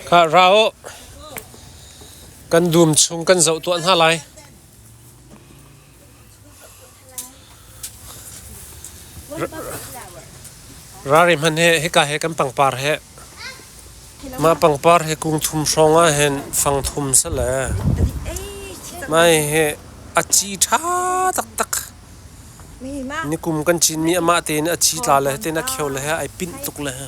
Khah ra uh, kan dum chung kan zoh tuah hna lai. Rari hman he hika he kan pangpar he mah pangpar he kung thum hrawng ah hen fang thum se le mai he a ci ṭha taktak nikum kan Chinmi amah tein a ci tla le tein a khio le he ai pinh tuk le he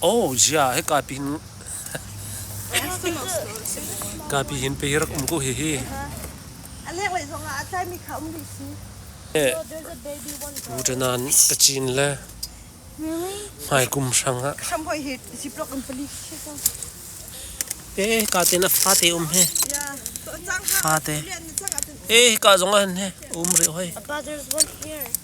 Oh jia he kapi hin kapi hin pe rak um ko hi hi. Alek lei zong ah a tlai mi kha um rih si. Utanan kachin le mai kum hrang ha. Kham hoi hi ziplok in pali khi so. Eh ka te na fa te um he. Ya. To chang ha. Fa te. Eh ka zong an he um ri hoi. Our brothers want here.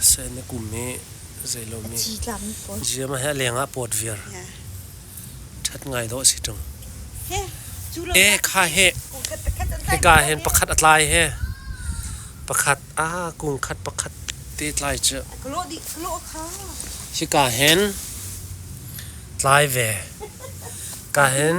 Sai na kum hi zeilo mi ziam he leng ah pawt viar that ngai do si tung e kha he hika hen pakhat atlai he pakhat a kung khat pakhat te tlai chu hika hen tlai ve ka hen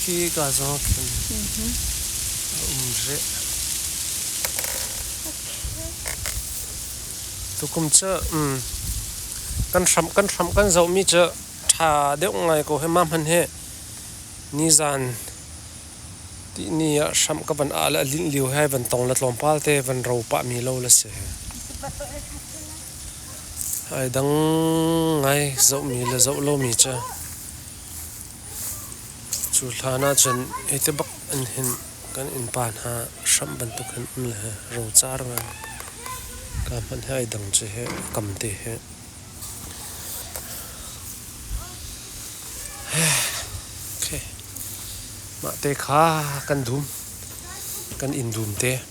Khi ka zaw khin a um re. Tukum cu kan hram kan hram kan zoh mi cu tha deuh ngai ko he ma hman he nizan Tihni ah hramh ka van ah le a linh lio he van tong le tlawmpal te van ro pah mi lo le si. Ai dang ngai zoh mi le zoh lo mi cu. Cu hlan ah cun ete bak in hin kan innpa hna hramh bantuk hin um le he ro car ngan. Ka hmanh he ai dang cu he kam te he. Mah te kha kan dum, kan in dum te.